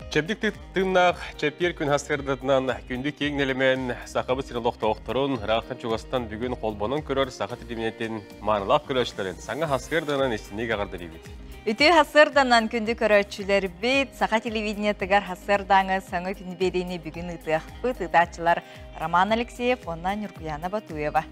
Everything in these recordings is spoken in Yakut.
Чэбдик тыыннаах чэппиэр күн хастыардатынан күндү киэҥ нэлэмэн Сахабыт сирин олохтоохторун ыраахтан чугастан бүгүн холбонон көрөр саха тилиминэтин Маарылаах көрөөччүлэрин саҥа сарсыарданан истиниигэ эҕэрдэлиибит! Үтүө сарсыарданан күндү көрөөччүлэрбит Саха телевидениетыгар сарсыардааҥы соңу күн биэриини бүгүн ыытыахпыт ыытааччылар Роман Алексеев уонна Ньургуйаана Батуева.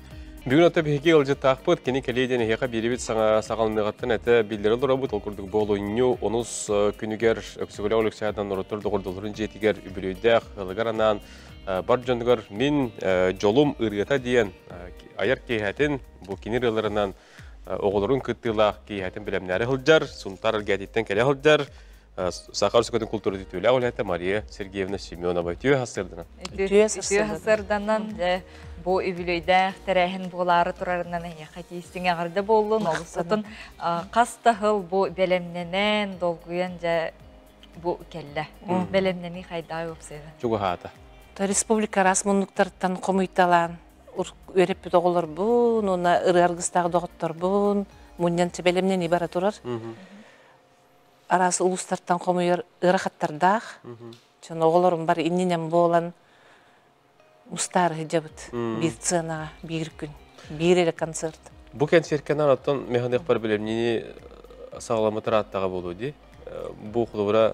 Бүгүн ата биһиги ыалдьыттаахпыт, кини кэлиэ диэн эһиэхэ биэрэбит саҥа саҕаланыаҕыттан этэ биллэрэ олоробут, ол курдук буолунньу онус күнүгэр Өксүгүлээх Александрдан норуоттар доҕордолорун дьиэтигэр үбүлүөйдээх ылыгар анаан бар дьонугар мин дьолум ырыата диэн айар киэһэтин бу кини ырыаларынан оҕолорун кыттыылаах киэһэтин бэлэмнээри сылдьар Сунтаар эргээтиттэн кэлэ сылдьар саха өрөспүүбүлүкэтин култуура үтүөлээх үлэһитэ Мария Сергеевна Семенова үтүө сарсыарданан үтүө сарсыарданан бу үбүлүөйдээх тэрээһин буолаары турарынан эйиэхэ тиистиҥ эҕэрдэ буоллун олус атын хас да сыл бу бэлэмнэнэн долгуйан дьэ бу кэллэ. Бэлэмнэнии хайдаа уопсайда. Чугаһаата. Республика араас муннуктарыттан хомуйталаан үөрэппит оҕолорбун уонна ырыа аргыстаах доҕотторбун мунньан бэлэмнэнии бара турар. Араас улуустартан хомуйар ыарахаттардаах. Чон оҕолорум бар иннинэн буолан устаары сылдьабыт биир сценаҕа биир күн биир эрэ концерт бу кэнсиэркэнэн оттон механыахпар билимнини саҕаламмыт ырааттаҕа буолуо дии бу холобура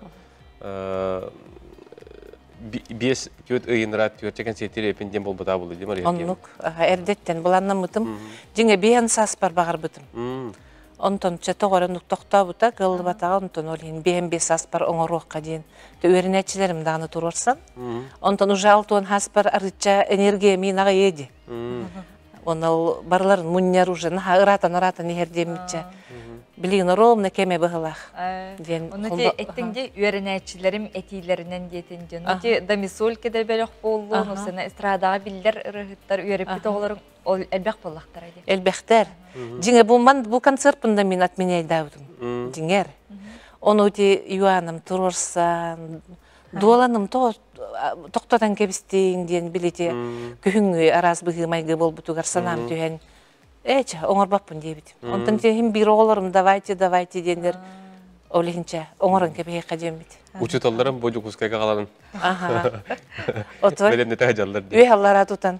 биэс түөрт ыйынра түөртэ кэнсиэртири эпин диэн буолбутаа буолуо дии мария оннук эрдэттэн быланнаммытым дьиҥэ биээн сааспар баҕарбытым онтон чөтөх өрөн тохтообута кыллыбатаҕа онтон ол иһин биэм биэс аспар оҥоруохха диэн үөрэнээччилэрим даҕаны туруорсан онтон уже алтуон аспар арычча энергия минаҕа еди онал барларын мунньар уже наха ыраатан ыраатан иһэр диэммитчэ блин ровно кеме быһылах диэн ону те эттиңде үөрэнээччилэрим этиилэринен диэтин дьон ти домисольке да бөлөх боллу сына эстрадаға биллер ырыһыттар үөрэппит оҕолорун Ол элбэх буоллахтара дии. Элбэхтэр. Дьиҥэ бу ман бу концерпунда мин отменяйдаабытым. Дьиҥэр. Ону ти юаным туруорсан, дуоланым тохтотон кэбистиин диэн билити күһүҥҥү араас быһыы-майгы болбутугар санаам түһэн Эча, оңорбаппын диэбитим. Онтон тиэхим биир оҕолорум давайте, давайте диэннэр ол иһинчэ оҥорон кэбиһиэххэ диэммит. Учууталларым бу Дьокуускайга қаланын. Аха. Отой. Бэлэмнэтэ дьаллар дии. Үе аллара тутан.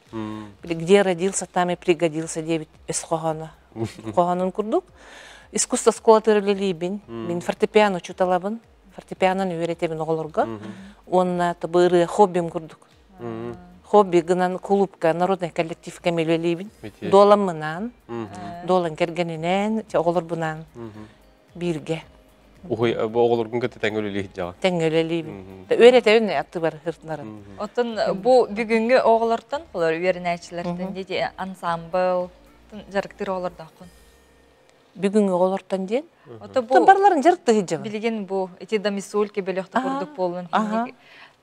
где родился, там и пригодился диэбит өс хоһооно. Хоһоонун курдук искусство оскуола төрөлөлүүбүн. Мин фортепиано учуталабын. Фортепианон үөретебин оголорго. Уонна тобыры хоббим курдук. Хобби гынан клубка, народный коллективка мелөлүүбүн. Дуолам мынаан, дуолан кэргенинээн, оголор бунаан Бииргэ. Уһуй, оҕолоргун кытта тэҥҥэ үлэлии сылдьаҕа. Тэҥҥэ үлэлиибин. Үөрэтэбин аттыбар сыртынарын. Оттон бу бүгүҥҥү оҕолортон олор үөрэнээччилэртэн дети ансамбл дьарыктыыр оҕолордооххун. Бүгүҥҥү оҕолортон диэн? Ото бу барларын дьарыктыы сылдьаҕын. Билигин бу эти домисольки бөлөхтө курдук буоллун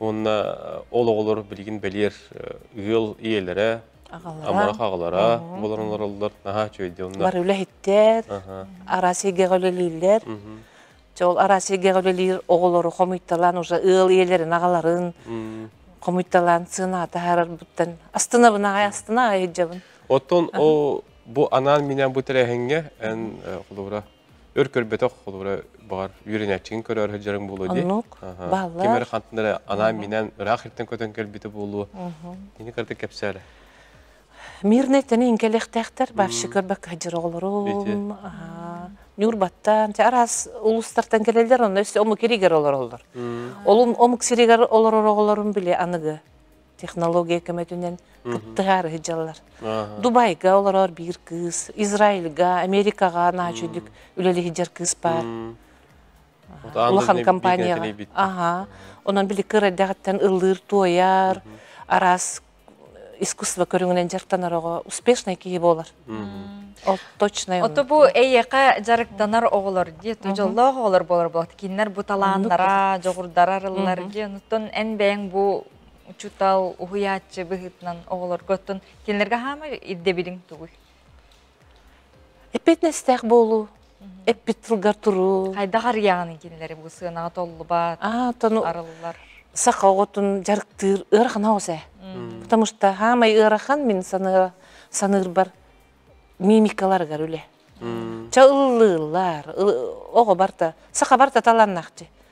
Уонна ол оҕолор билигин бэлиэр ыал ийэлэрэ, амарах аҕалара болон олороллор, наһаа үчүгэйдиэ онно. Бар үлэһиттэр, араас сиргэҕэ үлэлииллэр. Чол араас сиргэҕэ үлэлиир оҕолору хомуйталаан уже ыал ийэлэрин аҕаларын хомуйталаан сыына таһаарарбыттан астынабынаҕай астынаҕай ыһдьабын. Оттон ол бу анаан минээн бу тэрээһиҥҥэ эн холура өр көрбөтөх холура баҕар үөрэнээччигин көрө сылдьарыҥ буолуо дии. Оннук. Бааллар. Ким эрэ хантан анаан минэн ыраах иртэн көтөн кэлбитэ буолуо. Ини кырдык кэпсээрэ. Мирнэй таны инкелехтехтер бавши көрбөк жиролорун Нюрбаттан те арас улустартан келелдер онно өссө ому киригер олороллор. Олун омук сиригер олоророголорун биле аныгы. технология көмөтүнэн кыттыһаары сылдьаллар. Дубайга олорор биир кыыс, Израильга, Америкаҕа наачүйдүк үлэлэһиджэр кыыс баар. Улахан компанияҕа. Аха. Онон били кырайдагыттан ыллыыр туойар, арас искусство көрүҥүнэн дьарыктанарыгы успешный киһи болар. Ол точно. Ото бу эйеқа жарыктанар оголор диет, жоллоох оголор болар болат. Киннер бу талааннара, жогурдара арыллар ди. Оттон эн бэйэң бу учуутал, уһуйааччы быһыытынан оҕолорго оттон кинилэргэ хаама ирдэбилиҥ тугуй? Эппиэтинэстээх буолуу, эппит тылгар туруу. Хайдах арыйаҕын кинилэри бу сыанаҕа толлубат, арыллар? Саха оҕотун дьарыктыыр ыарахана оҕус ээ. Потому что хаамай ыарахан мин саныа саныырбар мимикаларыгар үлэ. Ча ыллыыллар, оҕо барта, саха барта таланнахчы.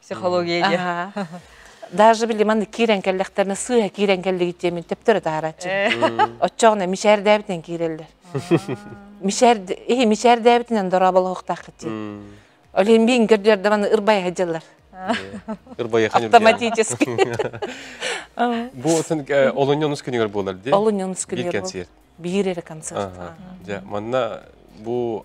психология диэ даже били манна киирэн кэллэхтэринэ сыыһа киирэн кэллигит диэмин төптөрө таарааччы оччоҕуна мишээрдээбитинэн киирэллэр мишээрд иһи мишээрдээбитинэн дорооболоһуохтааххыт дии ол иһин миин көрдүлэр да манна ырбайа сылдьаллар ырбайа автоматически бу олунньунус күнүгэр буолар дии олунньунус күнүгэр биир эрэ концерт дьэ манна бу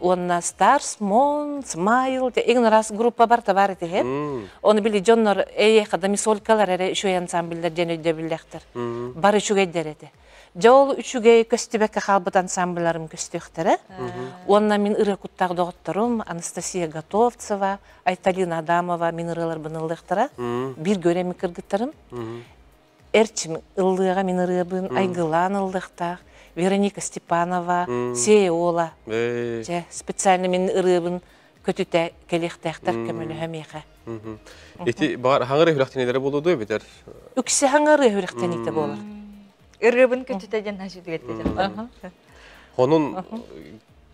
уонна Stars, Mon, Smile игнорас группабар табаар этиһэ оны били дьоннор эйэха дамисолькалар эрэ үчүгэй ансамбллер диэн өйдөбүллэхтэр бары үчүгэйдэр этэ дьэ ол үчүгэй көстүбэккэ хаалбыт ансамблларым көстүөхтэрэ уонна мин ырыа куттаах доҕотторум анастасия готовцева айталина адамова мин ырыаларбын ыллыахтара бииргэ үрэми кыргыттарым эрчим ыллыаҕа мин ырыабын айгылаан ыллыахтаах Вероника Степанова Сеола дьэ специально мин ырыабын көтүтэ кэлиэхтээхтэр көмөлөһө миэхэ ити баҕар хаҥыр үһүрэхтэнилэрэ буолуо дуо эбэтэр үксэ хаҥыр үһүрэхтэниитэ буолар ырыабын көтүтэ диэн хашыдыгатта Хонун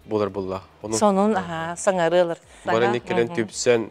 булар булла. Сонун аха саҥары ылар. Бары кэлэн түпсэн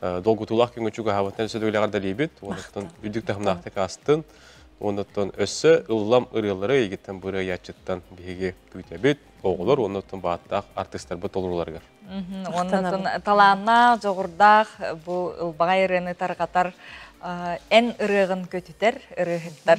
долгутуулаах күҥҥэ чугаһаабыттан өссө да үлэҕэр далийбит, уонна үрдүк таһымнаахтык аастын. Уоннаттан өссө ыллам ырыалары эйигиттэн быры ыйааччыттан биһиги күүтэбит, оҕолор уоннаттан бааттаах артыыстарбыт толорууларыгар. Уоннаттан талааннаах, дьоҕурдаах бу ылбаҕай ырыаны тарҕатар эн ырыаҕын көтүтэр ырыаһыттар